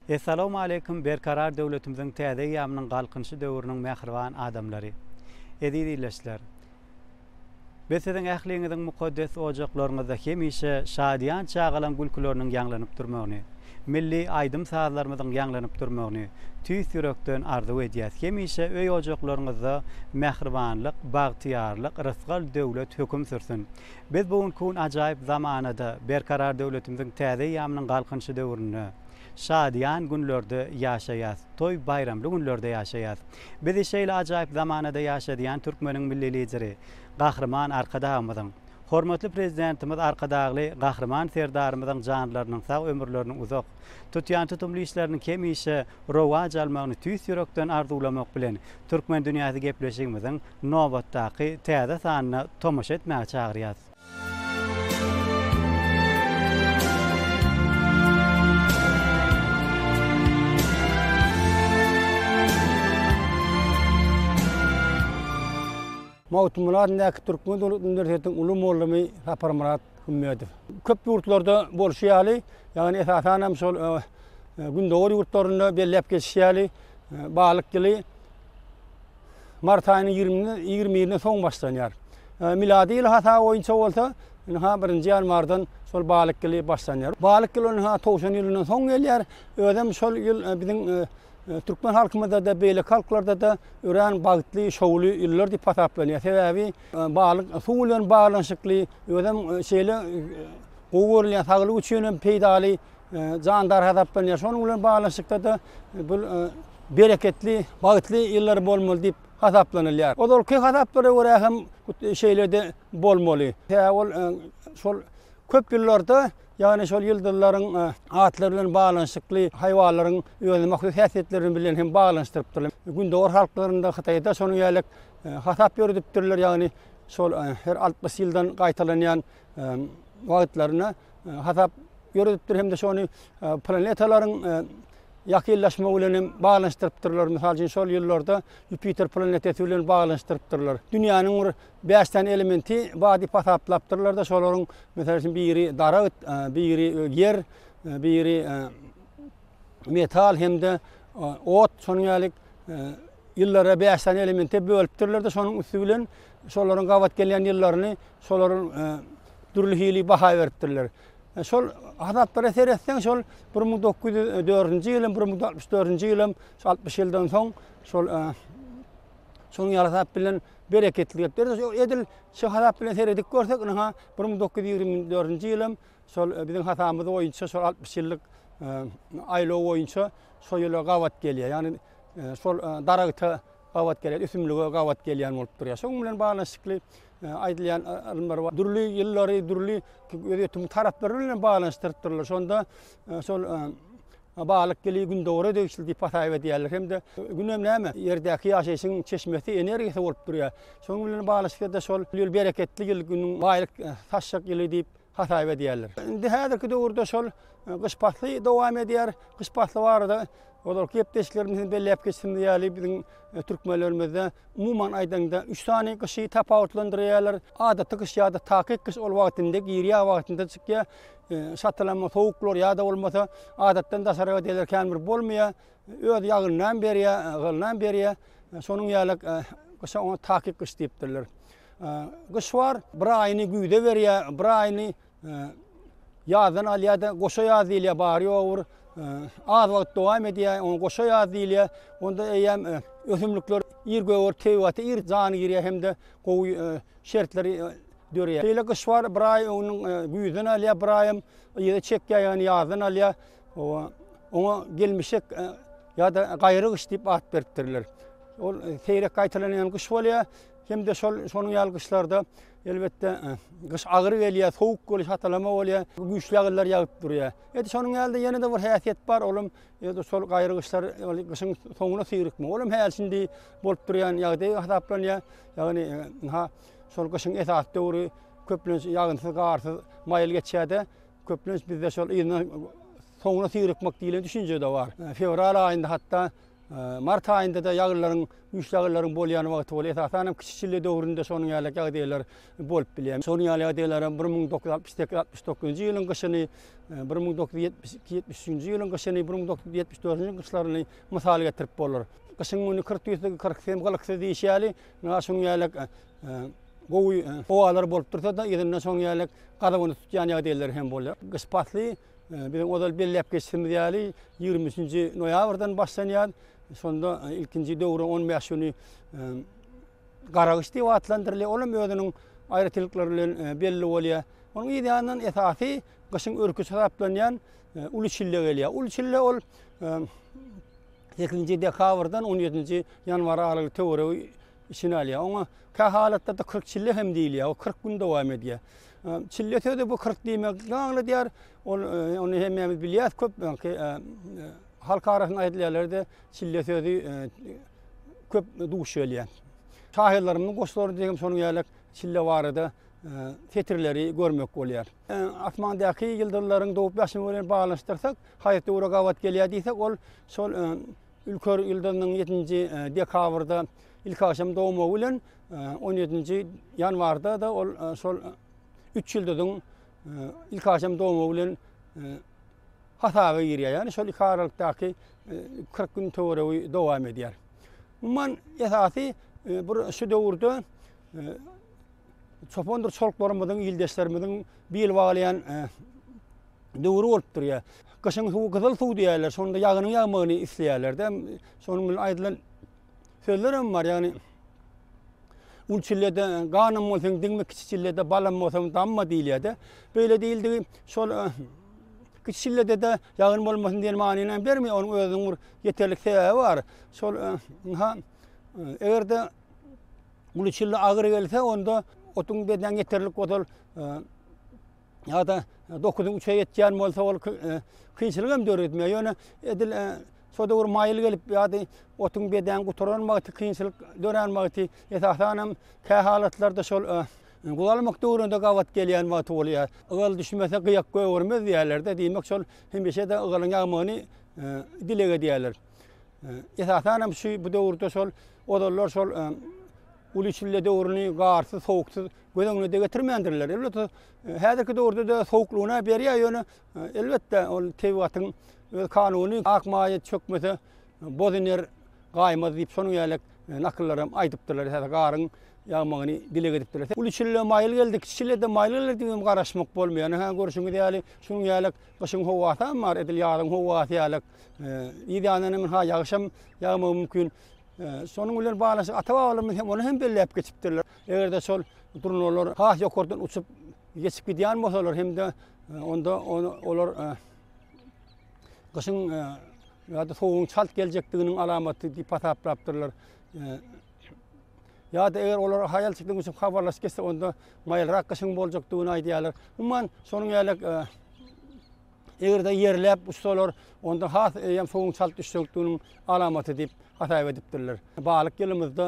Essalawmaleýkum Berkarar döwletimiziň täze eýýamynyň Galkynyşy döwrüniň mähriban adamlary! Eziz ildeşler! Biz siziň ähliňiziň mukaddes ojaklaryňyzda hemişe şadyýan çagalaň gülküleriniň ýaňlanyp durmagyny, milli aýdym-sazlarymyzyň ýaňlanyp durmagyny tüýs ýürekden arzuw edýäs, hemişe öý-ojaklaryňyzda mähribanlyk, bagtyýarlyk, rysgal, döwlet höküm sürsün! Biz bu günki gün ajaýyp zamanada, Berkarar döwletimiziň täze eýýamynyň Galkynyşy döwründe, şadyýan günlerde ýaşaýas, toý-baýramly günlerde ýaşaýas. Bizi şeýle ajaýyp zamanada ýaşadýan türkmeniň Milli Lideri, Gahryman Arkadagymyzyň, hormatly Prezidentimiz Arkadagly Gahryman Serdarymyzyň janlarynyň sag, ömürleriniň uzak, Tutýan tutumly işleriniň hemişe rowaç almagyny tüýs ýürekden arzuwlamak bilen, Türkmen dünýäsi gepleşigimiziň nobatdaky täze sanyna tomaşa etmäge çagyrýas. Magtymguly adyndaky Türkmen döwlet uniwersitetiniň uly mugallamy Saparmyrat Ummedow. Köp ýurtlarda bolşy ýaly, ýagny esasan hem şol Gündogar ýurtlarynda belläp geçişi ýaly, balyk ýyly mart aýynyň ýigrimi ýigrimi birine soň başlanýar. Milady ýyl hasaby boýunça bolsa, ynha birinji ýanwardan şol balyk ýyly başlanýar. Balyk ýyly ynha towşan ýylyndan soň gelýär. Özem şol ýyl biziň türkmen halkymyzda-da, beýleki halklarda-da örän bagtly, şowly ýyllar diýip hasaplanýar. Sebäbi Balyk suw bilen baglanyşykly, özem şeýle gowy görülýän, saglyk üçin hem peýdaly jandar hasaplanýar. Şonuň bilen baglanyşykda-da bu bereketli, bagtly ýyllar bolmaly diýip hasaplanylýar. Ozalky hasaplara görä hem şeýle-de bolmaly. Sebäbi ol şol köp ýyllarda, ýagny şol ýyldyzlaryň atlary bilen baglanyşykly haýwanlaryň özüne mahsus häsiýetleri bilen hem baglanyşdyrypdyrlar. Gündogar halklarynda, Hytaýda şonuň ýaly Hasap ýöredipdirler, ýagny şol her altmyş ýyldan gaýtalanýan wagtlaryna hasap ýöredipdir hem-de şony planetalaryň ýakynlaşmagy bilen hem baglanyşdyrypdyrlar. Mysal üçin, şol ýyllarda Ýupiter planetesi bilen baglanyşdyrypdyrlar. Dünýäniň bir bäş sany elementi bar diýip hasaplapdyrlar-da, şolaryň, mysal üçin, biri daragt, biri ýer, biri metal hem-de ot, şonuň ýaly Ýyllary bäş sany elemente bölüpdirler-de, şonuň üsti bilen şolaryň gabat gelýän ýyllaryny şolaryň dürli hili baha beripdirler. Şol hasaplara seretseň, şol bir müň dokuz ýüz dördünji ýylym, bir müň dokuz ýüz altmyş dördünji ýylym, şu altmyş ýyldan soň şol şonuň ýaly hasap bilen bereketli gepler. Edil şu hasap bilen seredip görsek, ynha, bir müň dokuz ýüz ýigrimi dördünji ýylym, Şol biziň hasabymyz boýunça şol altmyş ýyllyk aýlaw boýunça şo ýyla gabat gelýär. Ýagny şol daragta gabat gelýär, ösümlige gabat gelýän bolup durýar. Şonuň bilen baglanyşykly aýdylýan ylymlar bar. Dürli ýyllary, dürli gözýetim taraplary bilen hem baglanyşdyryp durlar. Şonda şol Balyk ýyly gündogara degişli diýip hasap edýärler. Hem-de Gün hem näme? Ýerdäki ýaşaýşyň çeşmesi, energiýasy bolup durýar. Şonuň bilen baglanyşykly-da şol ýyl bereketli ýyl, günüň baýlyk saçjak ýyly diýip hasaýyp edýärler. Indi häzirki döwürde şol gyş pasly dowam edýär. Gyş pasly barada ozalky gepleşiklerimiz hem belläp geçdiğimiz ýaly biziň türkmenlerimizde umuman aýdaňda üç sany gyşy tapawutlandyrýarlar. Adaty gyş ýa-da takyk gyş ol wagtynda girýär, wagtynda çykýar. Şatalama sowuklar ýa-da bolmasa adatdan daşary ýagdaýlar kän bir bolmaýar. Öz ýagynynam berýär, ýygnam berýär. Şonuň ýaly gyşa oňa takyk gyş diýipdirler. Gyş bar, bir aýyny güýze berýär, bir aýyny ýazdan alýar-da, goşa ýaz diýilýär, bary-ýogy bir az wagt dowam edýär, oňa goşa ýaz diýilýär. Onda eýýäm ösümlikler ir göger, tebigaty ir jan girýär hem-de gowy şertler döreýär. Şeýle gyş bar, bir aý onuň güýzden alýar, bir aýam yza çekýär, ýagny ýazdan alýar. Oňa gelmişek ýa-da gaýry gyş diýip at beripdirler. Ol seýrek gaýtalanýan gyş bolýar. Hem-de şol şonuň ýaly gyşlarda elbetde gyş agyr gelýär, sowuk boluş, hatalama bolýar, güýçli ýagyrlar ýagyp durýar. Edi şonuň ýaly-da ýene-de bir häsiýet bar, olam edi şol gaýry gyşlar, ýaly gyşyň soňuna syrykma. Olam häli şindi bolup durýan ýagdaý hasaplanýar. Ýagny ha şol gyşyň esasy döwri köplenç ýagynsyz, garsyz, maýyl geçýär-de, köplenç bizde şol ýylyň soňuna syrykmak diýlen düşünje-de bar. Fewral aýynda hatda Mart aýynda-da ýagyrlaryň, güýçli ýagyrlaryň bolýan wagty bolup, esasan hem kiçi çilli döwründe şonuň ýaly ýagdaýlar bolup bilýär. Şonuň ýaly ýagdaýlara bir müň dokuz ýüz altmyş sekiz, altmyş dokuzynjy ýylyň gyşyny, bir müň dokuz ýüz ýetmiş iki, ýetmiş üçünji ýylyň gyşyny, bir müň dokuz ýüz ýetmiş dördünji gyşlaryny mysal getirip bolar. Gyşyň güni kyrk tüýsügi, kyrk hem gylyksyz diýşi ýaly, ynha şunuň ýaly gowy howalar bolup dursa-da, yzyndan şonuň ýaly gazawyny tutýan ýagdaýlar hem bolýar. Gyş pasly. Biziň ozal belläp geçişimiz ýaly, ýigrimi üçünji noýabrdan başlanýar. Şonda ilkinji döwrüň on bäş güni garagyş diýip atlandyrylýar. Ol hem özüniň aýratynlyklary bilen belli bolýar. Onuň yz ýanyndan esasy gyşyň örküsi hasaplanýan uly çille gelýär. Uly çille ol sekizinji dekabrdan on ýedinji ýanwar aralygy töweregi içine alýar. Oňa kä halatlarda kyrk çille hem diýilýär. O kyrk gün dowam edýär. Çille sözi bu kyrk diýmegi aňladýar. Ol ony hemmämiz bilýäris köp öňki halk arasynda aýdylan ýerlerde çille sözi köp duş gelýär. Şahyrlarymyzyň goşgularynda hem şonuň ýaly çille barada setirleri görmek bolýar. Asmandaky ýyldyzlaryň dogup-ýaşmagy bilen baglanyşdyrsak, haýsy döwre gabat gelýär diýsek, ol şol Ülker ýyldyzynyň ýedinji dekabrda ilki agşam dogmagy bilen, on ýedinji ýanwarda-da ol şol üç ýyldyzyň ilki agşam dogmagy bilen hasaba girýär. Ýagny şol iki aralykdaky kyrk gün töweregi dowam edýär. Umuman, esasy bir şu döwürde çopandyr çoluklarymyzyň, ildeşlerimiziň bil baglaýan döwri bolup durýar. Gyşyň suwy gyzyl suw diýýärler. Şonda ýagynyň ýagmagyny isleýärler-de. Şonuň bilen aýdylan sözler hem bar. Ýagny Ul çillede ganym bolsaň diňme, kiçi çillede balam bolsaň damma diýilýär-de. Beýle diýildigi şol kiçi çillede-de ýagyn bolmasyn diýen manyny hem bermeýär. Onuň özüniň bir ýeterlik sebäbi bar. Şol ynha eger-de uly çille agyr gelse, onda otuň bedenine ýeterlik bolsa, ýa-da dokuzyň üçe ýetýän bolsa ol kynçylyk hem döredmeýär. Ýöne edil şo döwür maýyl gelip ýa-da otuň bedäň gutaran wagty kynçylyk dörän wagty esasan hem kä halatlarda şol guzalmak döwründe gabat gelýän wagty bolýar. Ygal düşmese gyýak gögermez diýýärler-de, diýmek şol hemişe-de ygalyň ýagmagyny dileg edýärler. Esasan hem şu bu döwürde şol Ozallar şol uly çille döwrüni garsyz, sowuksyz göz öňüne-de getirmändirler. Elbetde, häzirki döwürde-de sowuklygyna berýär, ýöne elbetde ol tebigatyň öz kanuny, ak maýa çökmese, boz iner, gaýymaz diýip, şonuň ýaly nakyllar hem aýdypdyrlar, häzir garyň ýagmagyny dileg edipdirler. Uly çille maýyl geldi, kiçi çille-de maýyl geler diýip hem garaşmak bolmaýar. Ine, hä, görşüňiz ýaly, şunuň ýaly gyşyň howasam bar, edil ýazyň howasy ýaly. Yz ýanyndan hem ynha ýagyşam ýagmagy mümkin. Şonuň bilen baglanyşyk ata-babalarymyz hem ony hem belläp geçipdirler. Eger-de şol durnalar has ýokardan uçup geçip gidýän bolsalar hem-de onda olar gyşyň ýa-da sowugyň çalt geljekdiginiň alamaty diýip hasaplapdyrlar. ýa-da eger olar haýal çykdan uçup habarlaşyp geçse onda maýylrak gyşyň boljakdygyny aýdýarlar. Umuman şonuň ýaly Eger-de ýerläp uçsalar, onda has eýýäm suwuň çalt düşjekdiginiň alamaty diýip hasaýyp edipdirler. Balyk ýylymyzda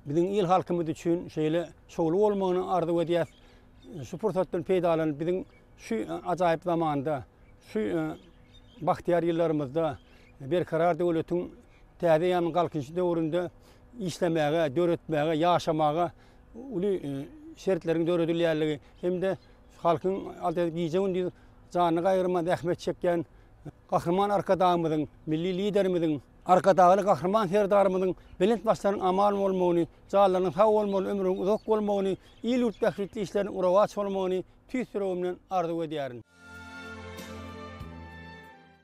biziň il-halkymyz üçin şeýle şowly bolmagyny arzuw edýäs. Şu pursatdan peýdalanyp, biziň şu ajaýyp zamanda, şu bagtyýar ýyllarymyzda Berkarar döwletiň täze eýýamyň Galkynyşy döwründe işlemäge, döretmäge, ýaşamaga uly şertleriň döredilýändigi hem-de Şu halkyň adyr gije-gündiz janyny gaýgyrman zähmet çekýän Gahryman Arkadagymyzyň, Milli Liderimiziň, Arkadagly Gahryman Serdarymyzyň belent başlaryň aman bolmagyny, janlarynyň sag bolmagyny, ömrüniň uzak bolmagyny, il-ýurt bähbitli işleriniň uruwaç bolmagyny tüýs ýüregimden arzuw edýärin.